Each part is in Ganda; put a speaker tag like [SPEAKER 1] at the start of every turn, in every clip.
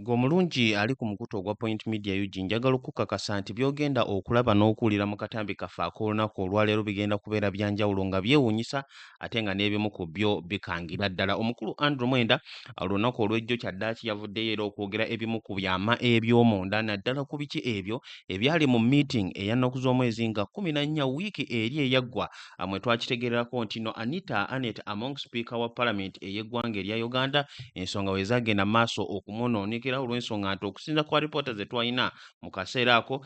[SPEAKER 1] Gwe omulungi ali ku mukutu ogwa Point Media UG njagala okukakasa nti by'ogenda okulaba n'okuwulira mu katambi kaffe ak'olunaku olwaleero bigenda kubeera bya njawulo nga byewuunyisa ate nga n'ebimu ku byo bikangira ddala omukulu andrew mwenda olunaku olw'ejjo kyaddaaki yavuddeyo era okwogera ebimu ku byama eby'omunda naddala ku biki ebyo ebyali mu meeting eyannaku z'omwezi nga kumi na nnya wiiki eri eyaggwa mwe twakitegererako nti no anita anet among speaker wa palamenti ey'eggwanga erya uganda ensonga we zagenda maaso okumunoonekera olw'ensonga nti okusinza ku alipoota ze twalina mu kaseera ako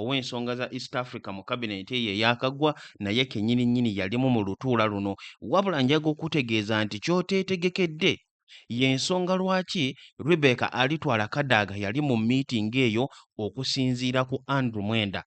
[SPEAKER 1] ow'ensonga za East Africa mu kabineeti eyo eyakaggwa naye kennyini nnyini yalimu mu lutuula luno wabula njaga okutegeeza nti ky'oteetegekedde y'ensonga lwaki Rebecca alitwala Kadaga yali mu miitingi eyo okusinziira ku Andrew Mwenda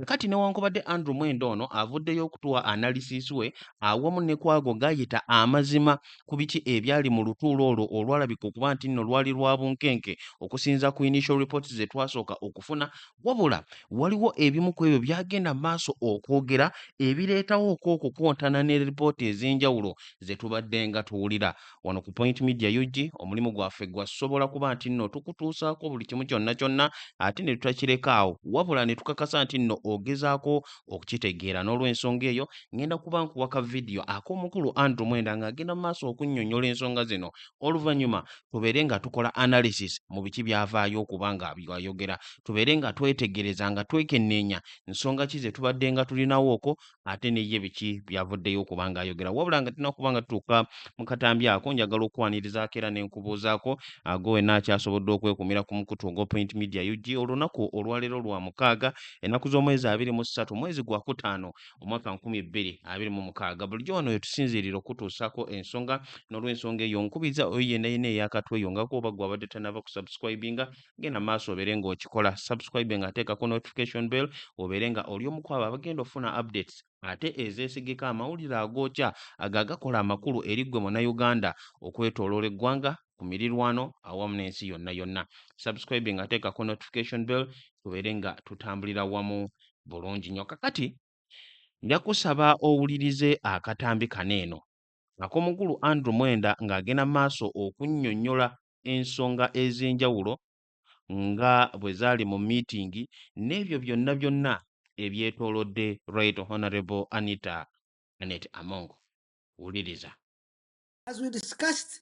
[SPEAKER 1] kati newankubadde Andrew Mwenda ono avuddeyo okutuwa analysis we awamu ne kwago gayita amazima ku biki ebyali mu lutuula olwo olwalabika okuba nti nno lwali lwa bunkenke okusinza ku initial reports ze twasooka okufuna Wabula waliwo ebimu ku ebyo byagenda mu maaso okwogera ebireetawo okwo okukontana ne lipoota ez'enjawulo ze tubadde nga tuwulira. Wano ku Point Media UG omulimu gwaffe gwa sobola kuba nti nno tukutuusaako buli kimu kyonna kyonna ate ne tutakireka awo wabula ne tukakasa nti nno ogezaako okukitegeera n'olwensonga eyo ngenda kuba nkuwa ka vidiyo ak'omukulu Andrew Mwenda ng'agenda mu maaso okunnyonnyola ensonga zino oluvannyuma tubeere nga tukola analysis mu biki byavaayo okuba nga byayogera tubeere nga twetegereza nga twekenneenya nsonga ki ze tubadde nga tulinawooko ate neye biki byavuddeyo okuba nga ayogera wabula nga tulina okuba nga tutuuka mu katambi ako njagala okukwanirizaako era ne nkubuuzaako ago wenna akyasobodde okwekumira ku mukutu ogwa point media ug olunaku olwaleero lwa mukaaga ennaku z'omwezi abiri mu ssatu mwezi gwa kutaano omwaka nkumi bbiri abiri mu mukaaga bulijjo wano wetusinziirira okutuusaako ensonga n'olwensonga eyo nkubiriza oyo yenna yenna eyakatweyongako oba gwe abadde tanaba kusubscribinga genda maaso obeere ng'okikola subscribe nga ateekako notification bell obeere nga oli omu kwabo abagenda ofuna updates ate ezeesigika amawulire agookya ago agakola amakulu eri ggwe munayuganda okwetoloola eggwanga ku mirirwano awamu n'ensi yonna yonna subscribing ateekako notification bell tubeere nga tutambulira wamu bulungi nnyo kakati nja kusaba owulirize akatambi kano eno akomukulu andrew mwenda ng'agenda maaso okunnyonnyola ensonga ez'enjawulo nga bwe zaali mu miitingi n'ebyo byonna byonna ebyetoolodde right honorable anita anet amongo wuliriza
[SPEAKER 2] As we discussed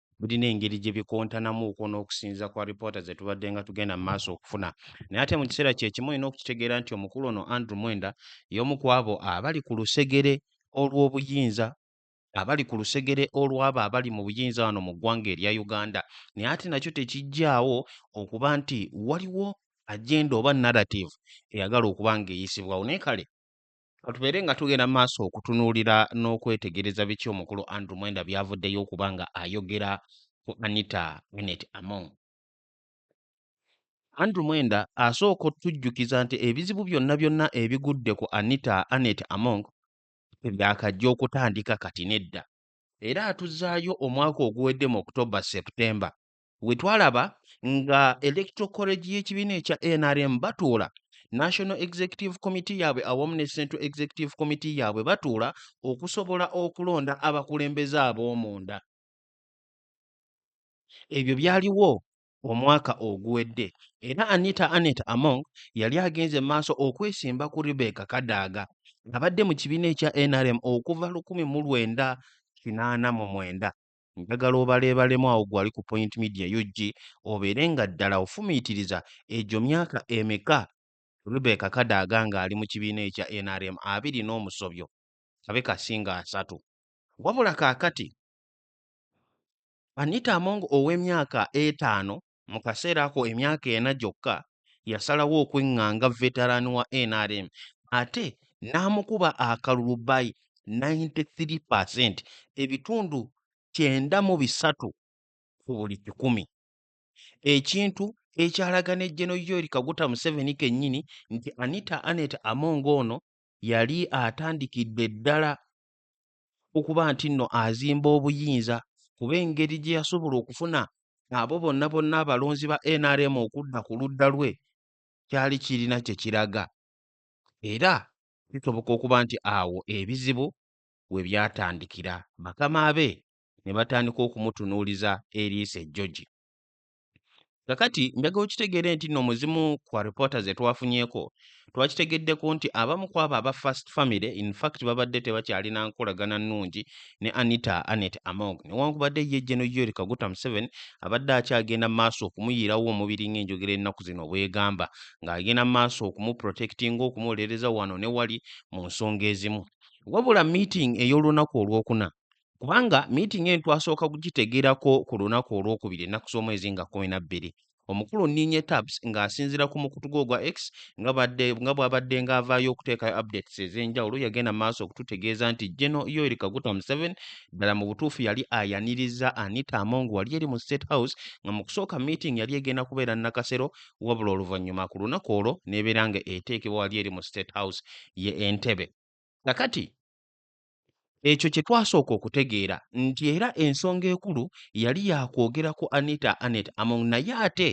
[SPEAKER 1] birina engeri gye bikontanamuuko n'okusinza kwa lipoota ze tubadde nga tugenda mu maaso okufuna naye ate mu kiseera kye kimu olina okukitegeera nti omukulu ono Andrew Mwenda y'omu ku abo abali ku lusegere olw'obuyinza abali ku lusegere olw'abo abali mu buyinza wano mu ggwanga erya Uganda naye ate nakyo tekijjaawo okuba nti waliwo agenda oba narrative eyagala okuba ng'eyisibwawo naye kale Katubeere nga tugenda maaso okutunuulira n'okwetegereza biki omukulu Andrew Mwenda byavuddeyo okuba nga ayogera ku Anita Annet Among. Andrew Mwenda asooka otujjukiza nti ebizibu byonna byonna ebigudde ku Anita Annet Among tebyakajja okutandika kati nedda era atuzaayo omwaka oguwedde mu October September we twalaba nga electoral college y'ekibiina ekya nrm batuula national executive committee yaabwe awamu ne central executive committee yaabwe batuula okusobola okulonda abakulembeze ab'omunda ebyo byaliwo omwaka oguwedde era anita anet among yali agenze maaso okwesimba ku rebeka kadaaga abadde mu kibiina ekya nrm okuva 1989 Njagala obaleebalemu awo gwali ku Point Media UG obeere nga ddala ofumiitiriza egyo myaka emeka Rebecca Kadaga ng'ali mu kibiina ekya nrm abiri n'omusobyo kabe kasinga asatu. Wabula kaakati Anita Among ow'emyaka etaano Mu kaseera ako emyaka ena gyokka, yasalawo okweŋŋanga veteran wa nrm ate n'amukuba akalulu by 93 per cent, ebitundu kyenda mu bisatu ku buli kikumi, ekintu ekyalaga ne General Yoweri Kaguta Museveni kennyini nti Anita Annet Among ono yali atandikidde ddala okuba nti nno azimba obuyinza kuba engeri gye yasobola okufuna abo bonna bonna abalonzi ba nrm okudda ku ludda lwe kyali kirina kye kiraga era kisoboka okuba nti awo ebizibu we byatandikira bakama be ne batandika okumutunuuliza eriiso ejjogi Kakati njagala okitegeere nti nno mu zimu ku alipoota ze twafunyeeko twakitegeddeko nti abamu ku abo aba First Family in fact babadde tebakyalina nkolagana nnungi ne Anita Annet Among newankubadde ye Gen Yoweri Kaguta Museveni abadde akyagenda mu maaso okumuyiirawo omubiri ng'enjogera ennaku zino bw'egamba ng'agenda mu maaso okumuprotekitinga okumuwolereza wano ne wali mu nsonga ezimu. Wabula meeting ey'olunaku olwokuna kubanga miitingi eno twasooka kugitegeerako ku lunaku olwokubiri ennaku z'omwezi nga kumi na bbiri omukulu nninye tabs ng'asinziira ku mukutu gwe ogwa x nga badde nga bw'abadde ng'avaayo okuteekayo updates ez'enjawulo yagenda mu maaso okututegeeza nti geno yoeri kaguta museven ddala mu butuufu yali ayaniriza anita among wali eri mu state house nga mu kusooka meeting yali egenda kubeera nakasero wabula oluvannyuma ku lunaku olwo n'ebeera nga eteekebwa wali eri mu state house ye entebe kakati Ekyo kye twasooka okutegeera nti era ensonga ekulu yali yakwogera ku Anita Annet Among naye ate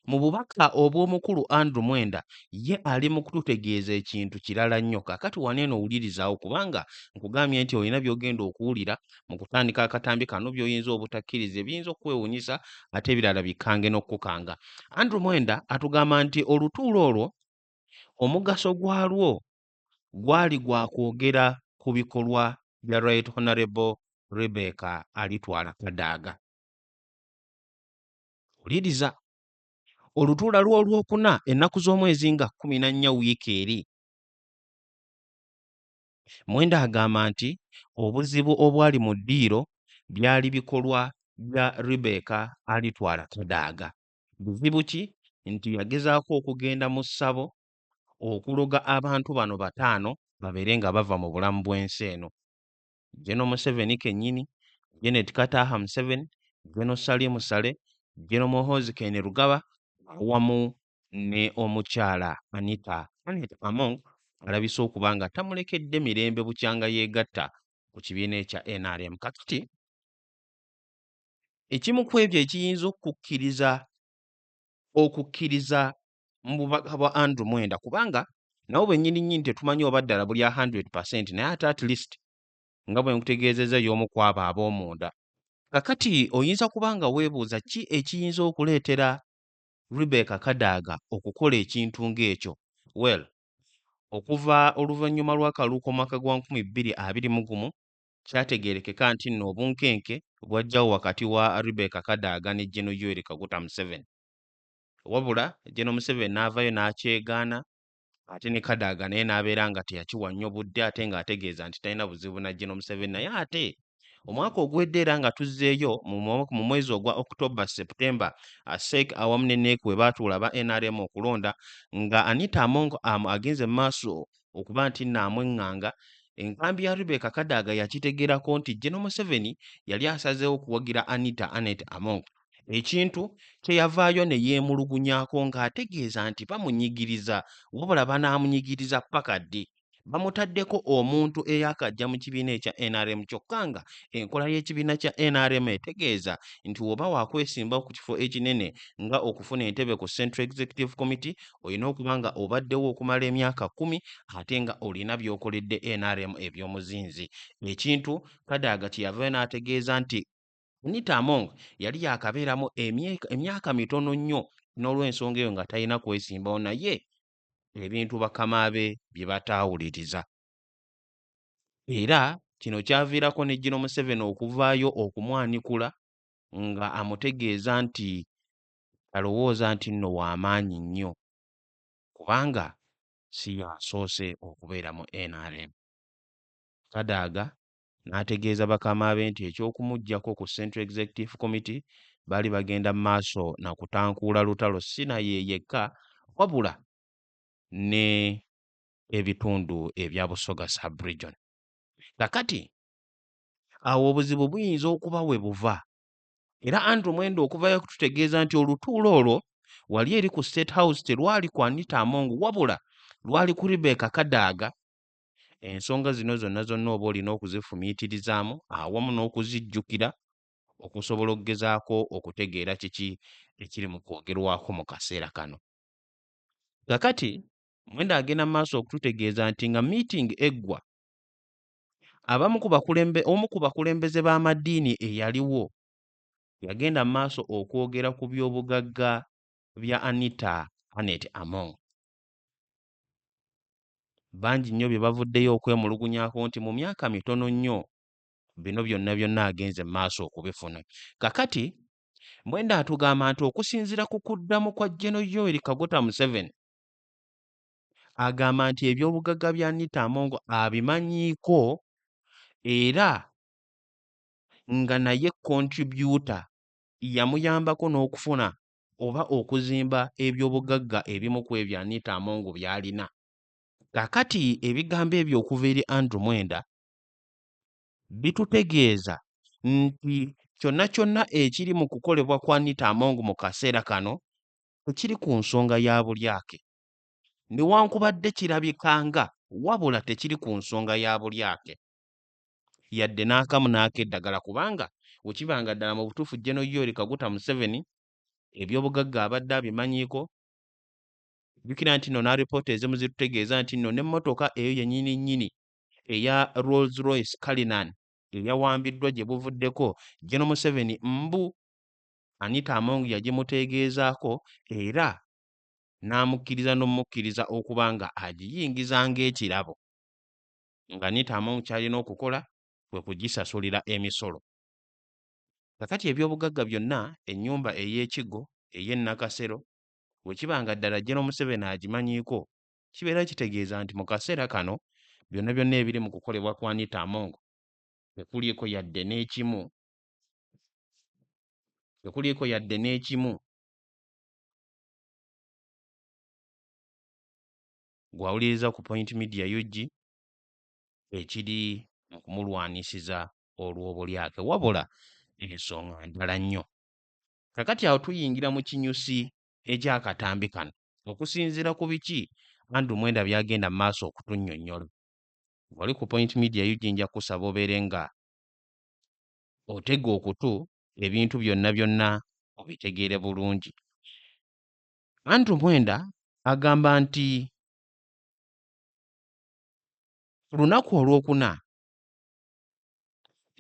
[SPEAKER 1] mu bubaka obw'omukulu Andrew Mwenda ye ali mu kututegeeza ekintu kirala nnyo. Kakati wano eno wulirizawo kubanga nkugambye nti olina by'ogenda okuwulira mu kutandika akatambi kano by'oyinza obutakkiriza ebiyinza okukwewunyisa ate ebirala bikange n'okukukanga. Andrew Mwenda atugamba nti olutuula olwo omugaso gwalwo gwali gwa kwogera ku bikolwa bya Right Honorable Rebecca Alitwala Kadaga. Wuliriza olutuula lw'olwokuna ennaku z'omwezi nga kkumi na nnya wiiki eri Mwenda agamba nti obuzibu obwali mu ddiiro byali bikolwa bya Rebecca Alitwala Kadaga. Buzibu ki? Nti yagezaako okugenda mu ssabo okuloga abantu bano bataano babeere nga bava mu bulamu bw'ensi eno geno museveni kennyini genet kataha museveni geno salim sale geno muhozi kene rugaba awamu ne omukyala anita anet among alabise okuba nga tamulekedde mirembe bukyanga yeegatta ku kibiina ekya nrm kakati ekimu ku ebyo ekiyinza okukkiriza okukkiriza mu bubaka bwa Andrew Mwenda kubanga nabo bennyini nnyini tetumanyi oba ddala buli a 100% naye ate at least nga bwe nkutegeezezza y'omu ku abo ab'omunda. Kakati oyinza kuba nga weebuuza ki ekiyinza okuleetera Rebecca Kadaga okukola ekintu ng'ekyo? Well, okuva oluvannyuma lw'akalulu k'omwaka gwa nkumi bbiri abiri mu gumu, kyategeerekeka nti nno obunkenke bwajjawo wakati wa Rebecca Kadaga ne General Yoweri Kaguta Museveni. Wabula General Museveni n'avaayo n'akyegaana ate ne Kadaga naye n'abeera nga teyakiwa nnyo budde ate ng'ategeeza nti talina buzibu na General Museveni naye ate omwaka oguwedde era nga tuzzeeyo mu mwa- mu mwezi ogwa October September ASEC awamu ne NEC we baatuula aba NRM okulonda nga Anita Among am agenze mu maaso okuba nti nno amweng'anga Enkambi ya Rebecca Kadaga yakitegeerako nti General Museveni yali asazeewo kuwagira Anita Annet Among ekintu kye yavaayo ne yeemulugunyako ng'ategeeza nti bamunyigiriza wabula banaamunyigiriza ppaka ddi bamutaddeko omuntu eyakajja mu kibiina ekya nrm kyokka nga enkola y'ekibiina kya nrm etegeeza nti woba wakwesimbawo ku kifo ekinene nga okufuna entebe ku central executive committee olina okuba nga obaddewo okumala emyaka kumi ate nga olina by'okoledde nrm eby'omuzinzi ekintu kadaaga kye yavayo n'ategeeza nti Anita Among yali yaakabeeramu emyaka mitono nnyo n'olw'ensonga eyo nga talina kwesimbawo naye ebintu bakama be bye bataawuliriza era kino kyaviirako ne Gino Museveni okuvaayo okumwanikula nga amutegeeza nti alowooza nti nno w'amaanyi nnyo kubanga si y'asoose okubeera mu nrm. Kadaga n'ategeeza bakama be nti eky'okumuggyako ku Central Executive Committee baali bagenda mu maaso na kutankuula lutalo si naye yekka wabula ne ebitundu ebya Busoga sub-region. Kakati awo obuzibu buyinza okuba we buva era Andrew Mwenda okuva yakututegeeza nti olutuula olwo wali eri ku State House terwali ku Anita Among wabula lwali ku Rebecca Kadaga Ensonga zino zonna zonna oba olina okuzifumiitirizaamu awamu n'okuzijjukira okusobola okugezaako okutegeera kiki ekiri mu kwogerwako mu kaseera kano. Kakati Mwenda agenda mu maaso okututegeeza nti nga miitingi eggwa, abamu ku bakulembe omu ku bakulembeze b'amadiini eyaliwo yagenda mu maaso okwogera ku by'obugagga bya Anita Annet Among. bangi nnyo bye bavuddeyo okwemulugunyako nti mu myaka mitono nnyo bino byonna byonna agenze mu maaso okubifuna kakati mwenda atugamba nti okusinziira ku kuddamu kwa geno yoeri kagota museveni agamba nti ebyobugagga bya nita amongo abimanyiiko era nga naye kontributa yamuyambako n'okufuna oba okuzimba eby'obugagga ebimu ku ebyo Anita Among by'alina. Kaakati ebigambo ebyo okuva eri Andrew Mwenda bitutegeeza nti kyonna kyonna ekiri mu kukolebwa kwa Anita Among mu kaseera kano tekiri ku nsonga ya bulyake. Newankubadde kirabika nga wabula tekiri ku nsonga ya bulyake. yadde n'akamu n'akeddagala kubanga wekiba nga ddala mu butuufu General Yoweri Kaguta Museveni ebyobugagga abadde abimanyiiko, jjukira nti nno n'alipoota ezimu zitutegeeza nti nno n'emmotoka eyo yennyini nnyini eya Rolls Royce Cullinan eyawambiddwa gye buvuddeko General Museveni mbu Anita Among yagimuteegeezaako era n'amukkiriza n'omukkiriza okuba nga agiyingiza ng'ekirabo. nga Anita Among ky'alina okukola kwe kugisasulira emisolo. Kakati ebyobugagga byonna ennyumba ey'ekiggo ey'e Nakasero bwe kiba nga ddala Jjeno Museveni agimanyiiko, kibeera kitegeeza nti mu kaseera kano byonna byonna ebiri mu kukolebwa kwa Anita Among tekuliiko yadde n'ekimu tekuliiko yadde n'ekimu gw'awuliriza ku Point Media UG ekiri mu kumulwanisiza olw'obulyake wabula ensonga ndala nnyo. Kakati awo tuyingira mu kinyusi eky'akatambi kano okusinziira ku biki Andrew Mwenda by'agenda mu maaso okutunnyonnyola. Ng'oli ku Point Media UG nja kusaba obeere nga otega okutu ebintu byonna byonna obitegeere bulungi. Andrew Mwenda agamba nti ku lunaku olwokuna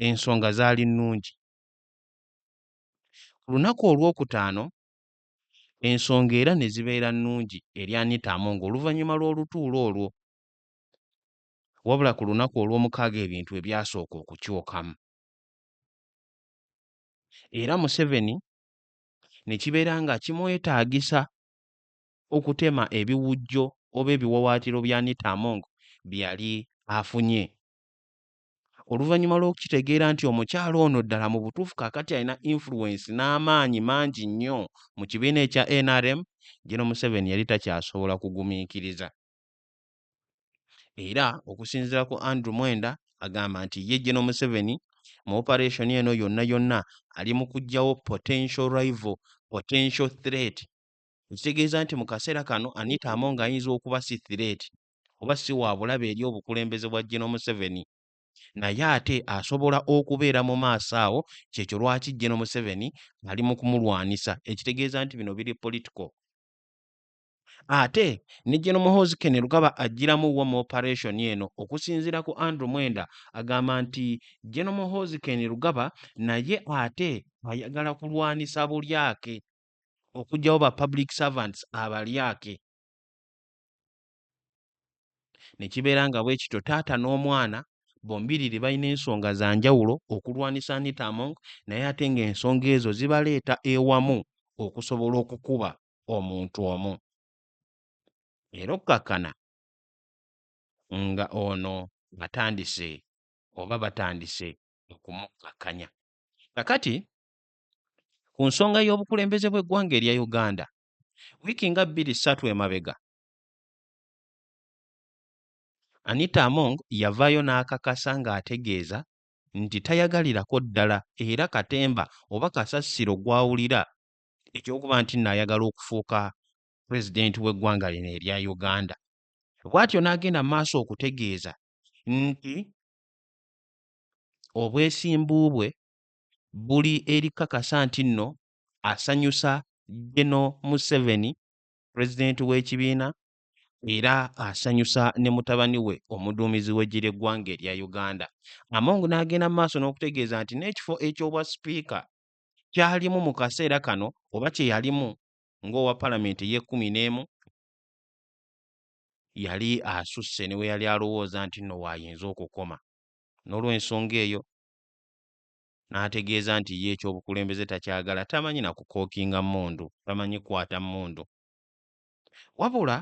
[SPEAKER 1] ensonga zaali nnungi. Ku lunaku olwokutaano ensonga era ne zibeera nnungi eri Anita Among oluvannyuma lw'olutuula olwo. Wabula ku lunaku olwomukaaga ebintu bwe byasooka okukyukamu era Museveni ne kibeera nga kimwetaagisa okutema ebiwujjo oba ebiwawaatiro bya Anita Among bye yali afunye. Oluvannyuma lw'okukitegeera nti omukyala ono ddala mu butuufu kaakati alina influence n'amaanyi mangi nnyo mu kibiina ekya nrm, Gen. Museveni yali takyasobola kugumiikiriza. era okusinziira ku Andrew Mwenda agamba nti ye Geno Museveni mu operation eno yonna yonna ali mu kuggyawo potential rival, potential threat ekitegeeza nti mu kaseera kano Anita Among ayinza okuba si threat oba si wa bulabe eri obukulembeze bwa Geno Museveni naye ate asobola okubeera mu maaso awo kyekyo lwaki Geno Museveni ali mu kumulwanisa ekitegeeza nti bino biri political. Ate ne Gen Muhoozi Kainerugaba ajjiramu wa mu operation eno. Okusinziira ku Andrew Mwenda agamba nti Gen Muhoozi Kainerugaba naye ate ayagala kulwanisa bulyake, okujjawo ba public servants abalyake ne kibeera nga bwe kityo taata n'omwana bombiriri balina ensonga za njawulo okulwanisa Anita Among naye ate ng'ensonga ezo zibaleeta ewamu okusobola okukuba omuntu omu era okukkakkana nga ono atandise oba batandise okumukkakkanya kakati ku nsonga y'obukulembeze bw'eggwanga erya uganda wiiki nga bbiri ssatu emabega anita among yavaayo n'akakasa ng'ategeeza nti tayagalirako ddala era katemba oba kasasiro gw'awulira eky'okuba nti nno ayagala okufuuka pulezidenti w'eggwanga lino erya Uganda. Bw'atyo n'agenda mu maaso okutegeeza nti obwesimbu bwe buli eri kakasa nti nno asanyusa Geno Museveni pulezidenti w'ekibiina era asanyusa ne mutabani we omuduumizi w'eggye ly'eggwanga erya Uganda. Among n'agenda mu maaso n'okutegeeza nti n'ekifo eky'obwa sipiika kyalimu mu kaseera kano oba kye yalimu ng'owa palamenti ey'ekkumi n'emu yali asusse ne we yali alowooza nti nno waayinza okukoma n'olw'ensonga eyo n'ategeeza nti ye ekyobukulembeze takyagala tamanyi na kukookinga mmundu tamanyi kwata mmundu wabula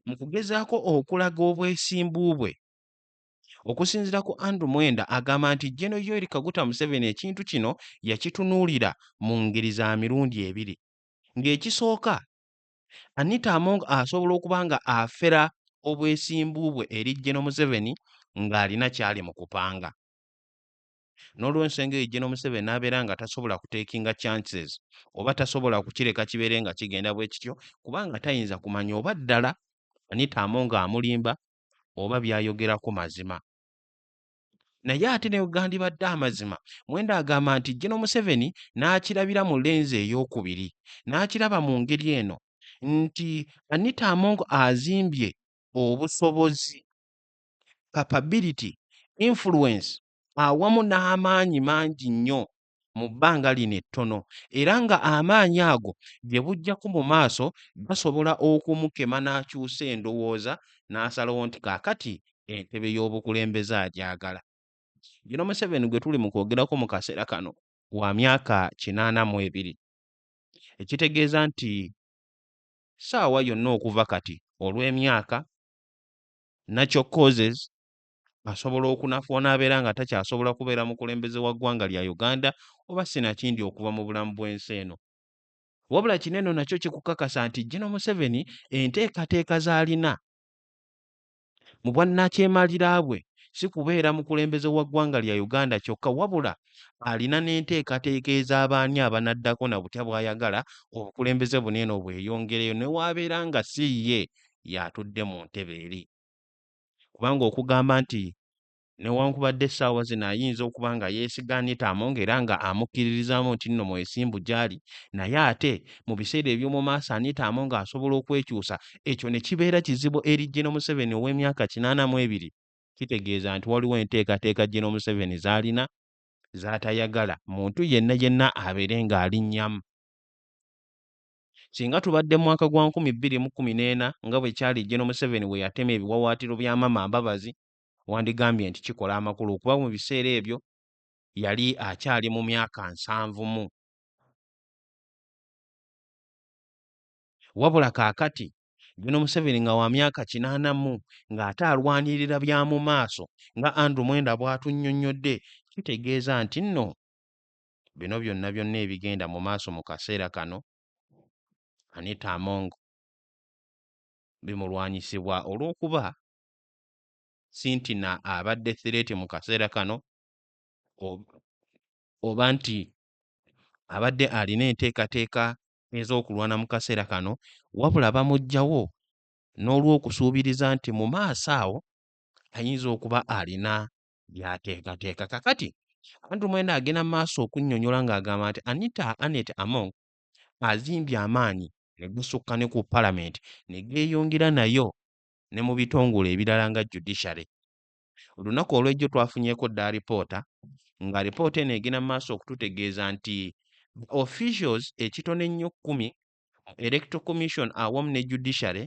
[SPEAKER 1] mu kugezaako okulaga obwesimbu bwe Okusinzira ku Andrew Mwenda agamba nti Gen Yoweri Kaguta Museveni ekintu kino yakitunuulira mu ngeri za mirundi ebiri. Ng'ekisooka, Anita Among asobola okuba nga afera obwesimbu bwe eri Gen Museveni ng'alina kyali mu kupanga. N'olwensonga eyo Gen Museveni n'abeera nga tasobola kutekinga chances oba tasobola kukireka kibeere nga kigenda bwe kityo kubanga tayinza kumanya oba ddala Anita Among amulimba oba byayogerako mazima naye ate ne gandibadde amazima mwenda agamba nti gino museveni n'akirabira mu lenzi ey'okubiri n'akiraba mu ngeri eno nti anita among azimbye obusobozi capability influence awamu n'amaanyi mangi nnyo mu bbanga lino ettono era nga amaanyi ago gye bujjako mu maaso gasobola okumukema n'akyusa endowooza n'asalawo nti kaakati entebe y'obukulembeze agyagala. Gino Museveni gwe tuli mu kwogerako mu kaseera kano wa myaka kinaana mu ebiri ekitegeeza nti ssaawa yonna okuva kati olw'emyaka, natural causes, asobola okunafu onaabeera nga takyasobola kubeera mukulembeze wa ggwanga lya Uganda oba sinakindi okuva mu bulamu bw'ensi eno. Wabula kino eno nakyo kikukakasa nti Gino Museveni enteekateeka z'alina mu bwannakyemalira bwe si kubeera mukulembeze wa ggwanga lya Uganda kyokka wabula alina n'enteekateeka ez'abaani abanaddako na butya bw'ayagala obukulembeze buno eno bweyongereyo ne waabeera nga si ye y'atudde mu ntebe eri. kubanga okugamba nti newankubadde essaawa zino ayinza okuba nga yeesiga Anita Among era nga amukkiririzaamu nti nno mwesimbu gy'ali naye ate mu biseera eby'omu maaso Anita Among asobola okwekyusa ekyo ne kibeera kizibu eri Gen. Museveni ow'emyaka kinaana mu ebiri kitegeeza nti waliwo enteekateeka Gen. Museveni z'alina z'atayagala muntu yenna yenna abeere ng'alinnyamu. Singa tubadde mu mwaka gwa nkumi bbiri mu kkumi n'ena nga bwe kyali Gen. Museveni bwe yatema ebiwawaatiro bya Mama Mbabazi, wandigambye nti kikola amakulu kuba mu biseera ebyo yali akyali mu myaka nsanvu mu. Wabula kaakati Gen. Museveni nga wa myaka kinaana mu ng'ate alwanirira bya mu maaso nga Andrew Mwenda bw'atunnyonnyodde kitegeeza nti nno bino byonna byonna ebigenda mu maaso mu kaseera kano Anita Among bimulwanyisibwa olw'okuba Sintina abadde threati mu kaseera kano oba nti abadde alina enteekateeka ez'okulwana mu kaseera kano wabula bamuggyawo n'olw'okusuubiriza nti mu maaso awo ayinza okuba alina by'ateekateeka. Kakati Andrew Mwenda agenda mu maaso okunnyonnyola ng'agamba nti Anita Annet Among azimbye amaanyi ne gasukka ne ku Palamenti ne geeyongera nayo ne mu bitongole ebirala nga Judiciary. Olunaku olw'ejjo twafunyeeko dda alipoota ng'alipoota eno egenda mu maaso okututegeeza nti officials ekitono ennyo kkumi mu Electoral Commission awamu ne Judiciary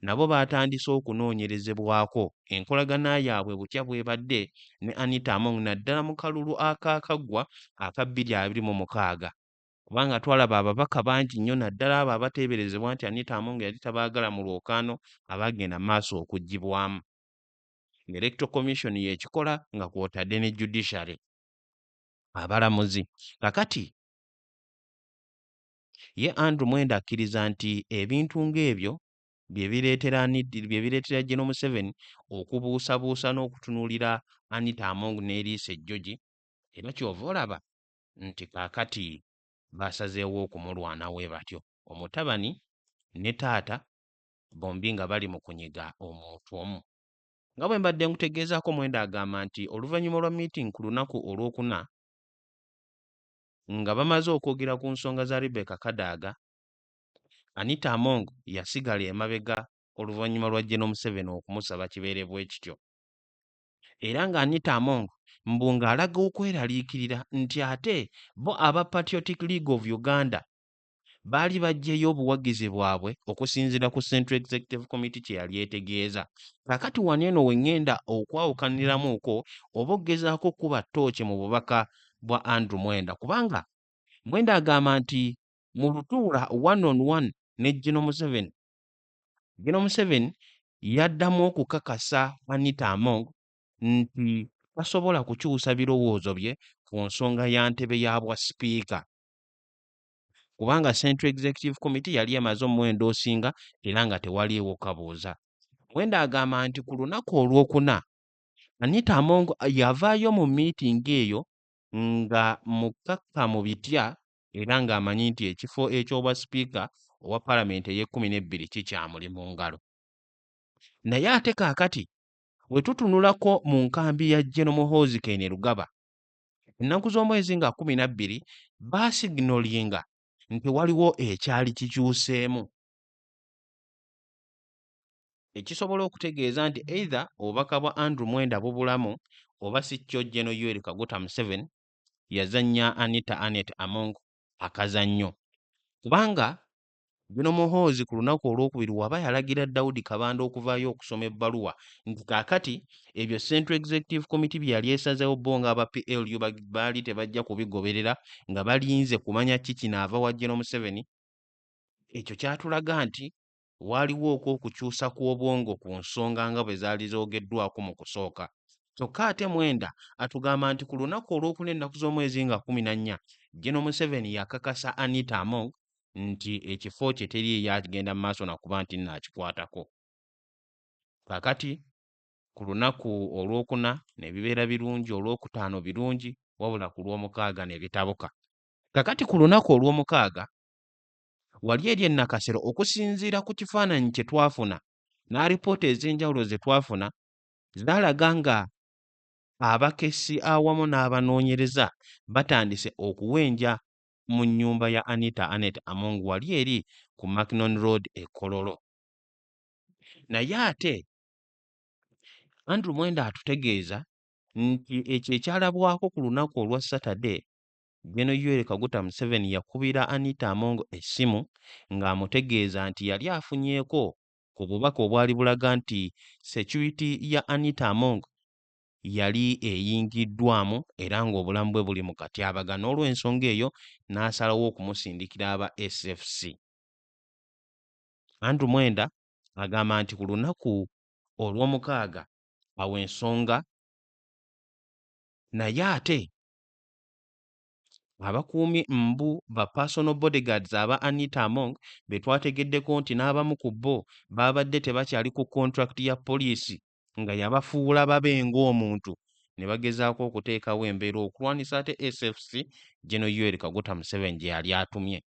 [SPEAKER 1] nabo baatandise okunoonyerezebwako enkolagana yaabwe butya bw'ebadde ne Anita Among naddala mu kalulu akaakaggwa aka bbiri abiri mu mukaaga kubanga twalaba ababaka bangi nnyo naddala abo abateeberezebwa nti Anita Among yali tabaagala mu lwokaano abaagenda maaso okuggyibwamu ng'Electoral Commission y'ekikola nga kw'otadde ne Judiciary abalamuzi kakati Ye Andrew Mwenda akkiriza nti ebintu ng'ebyo bye bireetera Anita bye bireetera General Museveni okubuusabuusa n'okutunuulira Anita Among n'eriiso ejjogi era ky'ova olaba nti kaakati baasazeewo okumulwana we batyo omutabani ne taata bombi nga bali mu kunyiga omuntu omu. Nga bwe mbadde nkutegeezaako Mwenda agamba nti oluvannyuma lwa miitingi ku lunaku Olwokuna, nga bamaze okwogera ku nsonga za Rebecca Kadaga, Anita Among yasigala emabega oluvannyuma lwa Gen Museveni okumusaba kibeere bwekityo era nga Anita Among mbu ng'alaga okweraliikirira nti ate bo aba Patriotic League of Uganda baali baggyeyo obuwagizi bwabwe okusinziira ku Central Executive Committee kye yali etegeeza. Kakati wano eno we ngenda okwawukaniramuuko oba okugezaako okukuba ttooci mu bubaka bwa Andrew Mwenda kubanga Mwenda agamba nti mu lutuula one on one ne Gino Museveni, Gino Museveni yaddamu okukakasa Anita Among nti tasobola kukyusa birowoozo bye ku nsonga ya ntebe ya bwa sipiika. kubanga Central Executive Committee yali emaze omuwendo osinga era nga tewaliiwo kabuuza. Muwenda agamba nti ku lunaku olwokuna, Anita Among yavaayo mu miitingi eyo nga mukkakkamu bitya era ng'amanyi nti ekifo eky'obwa sipiika owa palamenti ey'ekkumi n'ebbiri kikyamuli mu ngalo. Naye ate kaakati bwe tutunulako mu nkambi ya Gen Muhoozi Kainerugaba, ennaku z'omwezi nga kkumi na bbiri baasiginolinga nti waliwo ekyali kikyuseemu ekisobola okutegeeza nti either obubaka bwa Andrew Mwenda bubulamu oba si kyo General Yoweri Kaguta Museveni yazannya Anita Annet Among akazannyo kubanga Gen. Muhoozi ku lunaku olwokubiri waba yalagira Daudi Kabanda okuvaayo okusoma ebbaluwa nti kaakati ebyo Central Executive Committee bye yali esazeewo bo nga aba PLU baali tebajja kubigoberera nga balinze kumanya ki kinaava wa Gen. Museveni, ekyo kyatulaga nti waaliwo okwo okukyusa kw'obwongo ku nsonga nga bwe zaali zoogeddwako mu kusooka. Kyokka ate Mwenda atugamba nti ku lunaku olwokuna ennaku z'omwezi nga kkumi na nnya, Gen. Museveni yakakasa Anita Among, nti ekifo kye teri eyakigenda mu maaso nakuba nti nno akikwatako kakati ku lunaku olwokuna ne bibeera birungi olwokutaano birungi wabula ku lwomukaaga ne bitabuka kakati ku lunaku olwomukaaga wali eri ennakasero okusinziira ku kifaananyi kye twafuna n'alipoota ez'enjawulo ze twafuna zaalaga nga abakessi awamu n'abanoonyereza batandise okuwenja mu nnyumba ya Anita Annet Among wali eri ku Macnon Road e Kololo. Naye ate Andrew Mwenda atutegeeza nti ekyo ekyalabwako ku lunaku olwa Saturday Gen Yoweri Kaguta Museveni yakubira Anita Among essimu ng'amutegeeza nti yali afunyeeko ku bubaka obwali bulaga nti security ya Anita Among yali eyingiddwamu era ng'obulamu bwe buli mu katyabaga n'olwensonga eyo n'asalawo okumusindikira aba SFC. Andrew Mwenda agamba nti ku lunaku olw'omukaaga awo ensonga naye ate abakuumi mbu ba personal bodyguards aba Anita Among be twategeddeko nti n'abamu ku bo baabadde tebakyali ku kontulakiti ya poliisi nga yabafuula babe ng'omuntu ne bagezaako okuteekawo embeera okulwanyisa ate SFC General Yoweri Kaguta Museveni gye yali atumye.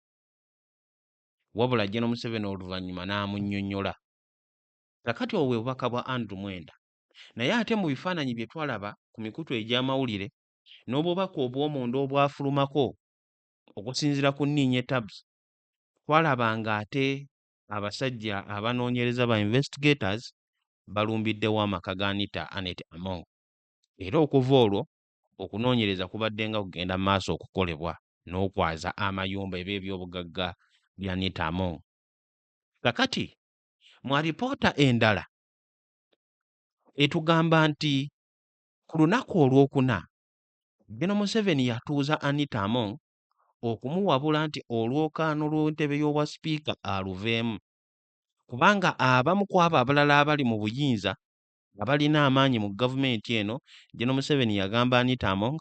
[SPEAKER 1] Wabula General Museveni oluvannyuma n'amunnyonnyola. Kakati obwo bwe bubaka bwa Andrew Mwenda. Naye ate mu bifaananyi bye twalaba ku mikutu egy'amawulire n'obubaka obw'omunda obwafulumako okusinziira ku Niinye Tabs twalaba ng'ate Abasajja abanoonyereza ba Investigators balumbiddewo amaka ga Anita Annet Among era okuva olwo okunoonyereza kubaddenga kugenda mu maaso okukolebwa n'okwaza amayumba eba ebyobugagga bya Anita Among. Kakati mu alipoota endala etugamba nti ku lunaku olwokuna Gen Museveni yatuuza Anita Among okumuwabula nti olwokaano lw'entebe y'obwa sipiika aluveemu kubanga abamu ku abo abalala abali mu buyinza abalina amaanyi mu gavumenti eno Gen Museveni yagamba Anita Among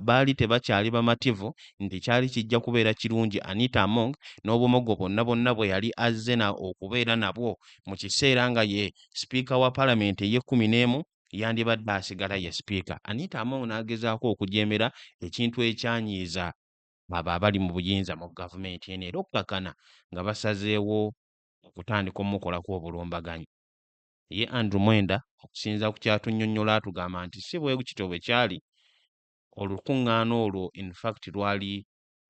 [SPEAKER 1] baali tebakyali bamativu nti kyali kijja kubeera kirungi Anita Among n'obumogo bwonna bwonna bwe yali azze okubeera nabwo mu kiseera nga ye sipiika wa palamenti ey'ekkumi n'emu yandibadde asigala ye sipiika Anita Among n'agezaako okujeemera ekintu ekyanyiiza abo abali mu buyinza mu gavumenti eno era okukakana nga basazeewo okutandika omukolako obulumbaganyi. Ye Andrew Mwenda okusinza ku kyatunnyonnyola atugamba nti si bwe kityo bwe kyali, olukuŋŋaana olwo in fact lwali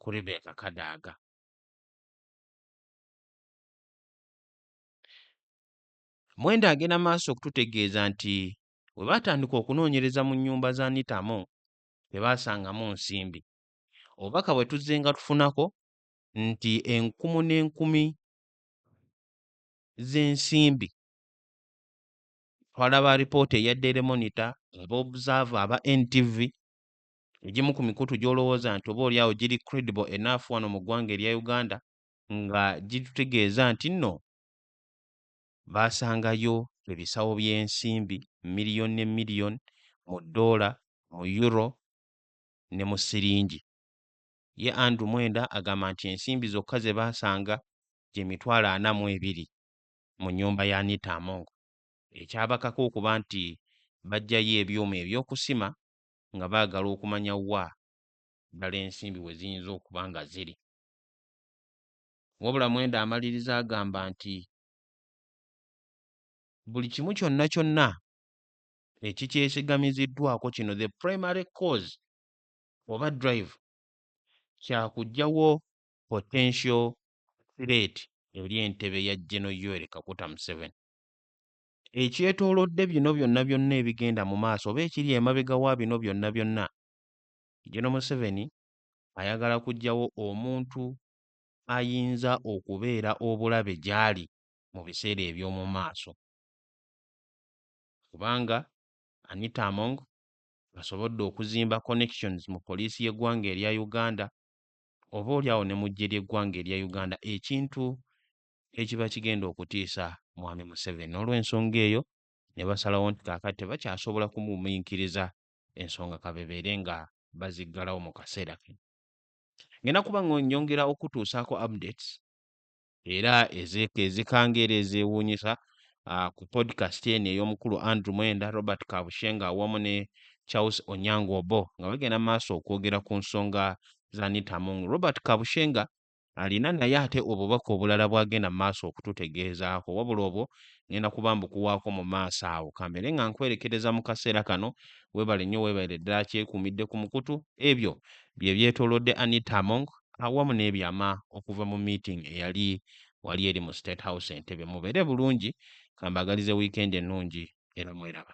[SPEAKER 1] ku Rebecca Kadaga. Mwenda agenda maaso okututegeeza nti bwe baatandika okunoonyereza mu nnyumba za Nitamu tebaasangamu nsimbi. Obubaka bwe tuzzenga tufunako nti enkumu n'enkumi z'ensimbi twalaba alipoota eya Daily Monitor, ab'observer, aba NTV, egimu ku mikutu gy'olowooza nti oboolyawo giri credible enough wano mu ggwanga erya Uganda nga gitutegeeza nti nno baasangayo ebisawo by'ensimbi miliyoni ne miliyoni mu ddoola, mu Euro ne mu siringi. Ye Andrew Mwenda agamba nti ensimbi zokka ze baasanga gye mitwalo ana mu ebiri mu nnyumba ya Anita Among ekyabakaka okuba nti baggyayo ebyuma ebyokusima nga baagala okumanya wa ddala ensimbi we ziyinza okuba nga ziri. Wabula Mwenda amaliriza agamba nti buli kimu kyonna kyonna ekikyesigamiziddwako kino the primary cause oba drive kyakugyawo potential threat eri entebe ya Geno Yoweri Kaguta Museveni. Ekyetoolodde bino byonna byonna ebigenda mu maaso oba ekiri emabega wa bino byonna byonna, Geno Museveni ayagala kugyawo omuntu ayinza okubeera obulabe gy'ali mu biseera eby'omu maaso kubanga Anita Among asobodde okuzimba connections mu poliisi y'eggwanga erya Uganda oba olyawo ne mu ggye ly'eggwanga erya Uganda ekintu ekiba kigenda okutiisa Mwami Museveni n'olwensonga eyo ne basalawo nti kaakati tebakyasobola kumugumiikiriza ensonga kabebeere nga baziggalawo mu kaseera kano. ngenda kuba nyongera okutuusaako updates era ezeka ezikanga era ezeewuunyisa uh, ku podcast eno ey'omukulu Andrew Mwenda, Robert Kabushenga awamu ne Charles Onyango Obo nga bagenda maaso okwogera ku nsonga za Anita Among. Robert Kabushenga alina naye ate obubaka obulala bw'agenda maaso okututegeezaako wabula obwo ngenda kuba mbukuwaako mu maaso awo kambeere nga nkwerekereza mu kaseera kano weebale nnyo weebalire ddala kyekuumidde ku mukutu ebyo bye byetoolodde anita among awamu n'ebyama okuva mu meeting eyali wali eri mu state house entebe mubeere bulungi kambagalize wiikendi ennungi era mweraba